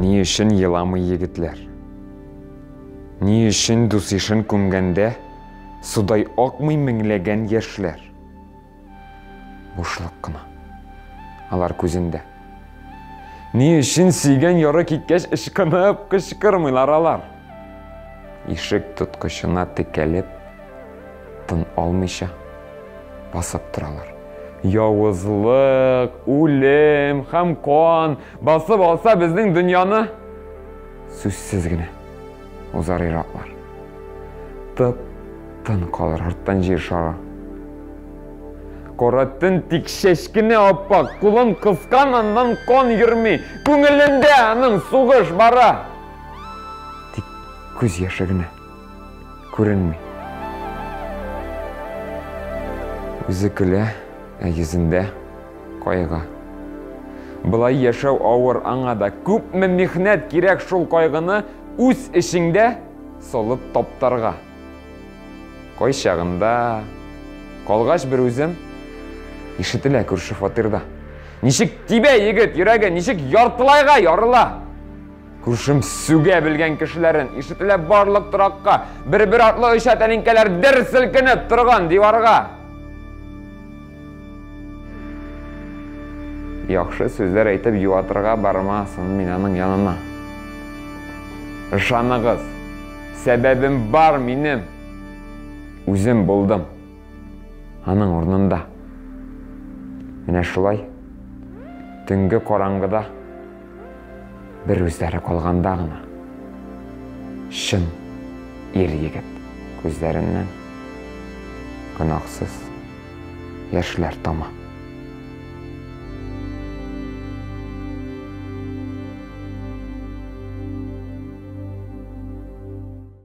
Ни өчен еламый егетләр? Ни өчен дус ишен күмгәндә судай акмый меңләгән яшьләр? Бушлык кына. Алар күзендә. Ни өчен сөйгән яры киткәч ычкынып кычкырмыйлар алар? Ишек тоткычына текәлеп, тын алмыйча басып торалар. Явызлык, үлем һәм кан басып алса безнең дөньяны, сүзсез генә. Узар ираклар. Тып, тын калыр арттан җир шары. Кара төн тик чәчкене аппак, кулын кыскан аннан кан йөрми, күңелендә аның сугыш бара. Тик күз яше генә күренми. Үзе көлә, ә йөзендә Кайгы. Болай яшәү авыр, аңа да күпме михнәт кирәк шул кайгыны үз эчеңдә солып таптарга. Кайчагында, калгач бер үзем, ишетелә күрше фатирда. Ничек тибә егет йөрәге, ничек яртылайга ярыла. Күршем сүгә белгән кешеләрен, ишетелә барлык торакка, бер-бер артлы оча тәлинкәләр дер селкенеп торган диварга. Яхшы сүзләр әйтеп юатырга бармасын мин аның янына. Ышаныгыз, сәбәбем бар минем. Үзем булдым. Аның урнында. Менә шулай. Төнге караңгыда. Бер үзләре калганда гына чын ир-егет күзләреннән гөнаһсыз яшьләр тама.